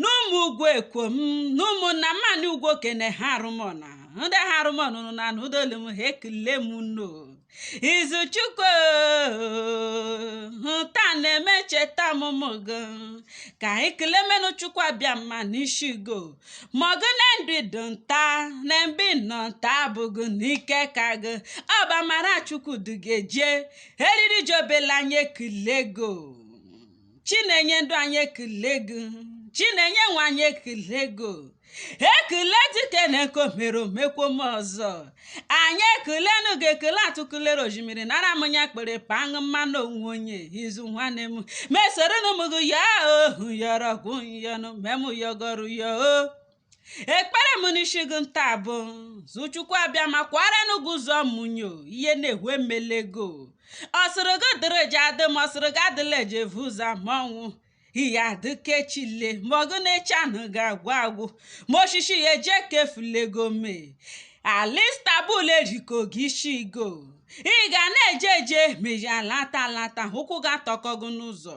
n'ụmụ ugwu ekwom n'ụmụ nnamani ugwoke n'eha arụmọna ndị eha arụmọna nụ na n'ụdolu m ha ekele m unu o izuchukwu taa na-eme ncheta ọmụmụ gị ka anyị kele menụ chukwu abịama n'ishi gị o ma ọgụ na ndị dụ nta na mbi nọ nta abụghị n'ike ka gị ọ bụ amara chukwu du gị eje eriri ji obele anyị ekele gị o chinenye ndụ anyị ekele gị chinenye nwa anyị ekele gị ekele dike na nke o mere o mekwo m ọzọ anyị ekelenu gị ekele atụkụlere oshimiri nara m ya kpere paṅụ mmanụ onwe onye izu nwanne m mesoro m gị ya ohu yọrọgwụ yọnụ mem yọgọrụ ya o ekpere m n'isi gị nta bụ zu chukwu abịama kwara nụ gị ụzọ mụnyo ihe na-ehu emelego ọ sịrị gị dịrị eji adị ma ọ sịrị gị adịla eji evu ụzọ ma ọnwụ ihe adịkechile ma ọgụ na echi anaghị agwụ agwụ ma oshishi ya eje ka efulego me ala istanbul eriko gị ishi gị o ị ga na-eje eje ma ị alata alata ụkwụ gị atọko gị n'ụzọ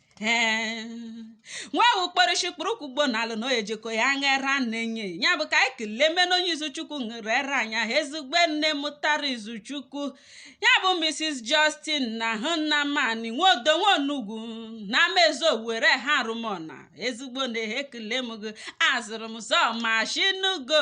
nwa ewu kpọrọ isi ikpere ụkwụ gbuo n'ala na o jeko ya ṅụ era nne ya ya bụ ka anyị kelee mena onye izuchukwu ṅere era ya ezigbo nne mụtara izuchukwu ya bụ mrs justina nnamani nwodo nwaonugwu na amaezu owere eha arụmọna ezigbo nne ekelee m gị azụrụ m zọ mashinugo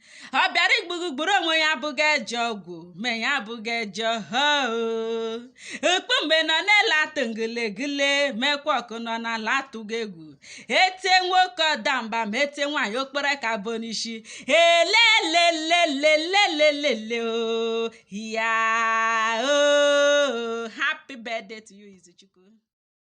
ọ bịara igbu gị gburu onwe ya abụghị ajọ ọgwụ ma ya abụghị ajọ ọhụụ okpu mgbe nọ na-ele atụ ngilegile mekwa ọkụ nọ n'ala atụghị egwu etie nwoke ọ daa mba ma etie nwaanyị o kpọrọ aka abụọ n'ishi elelelelelelelele o ya o happy birthday to you izuchukwu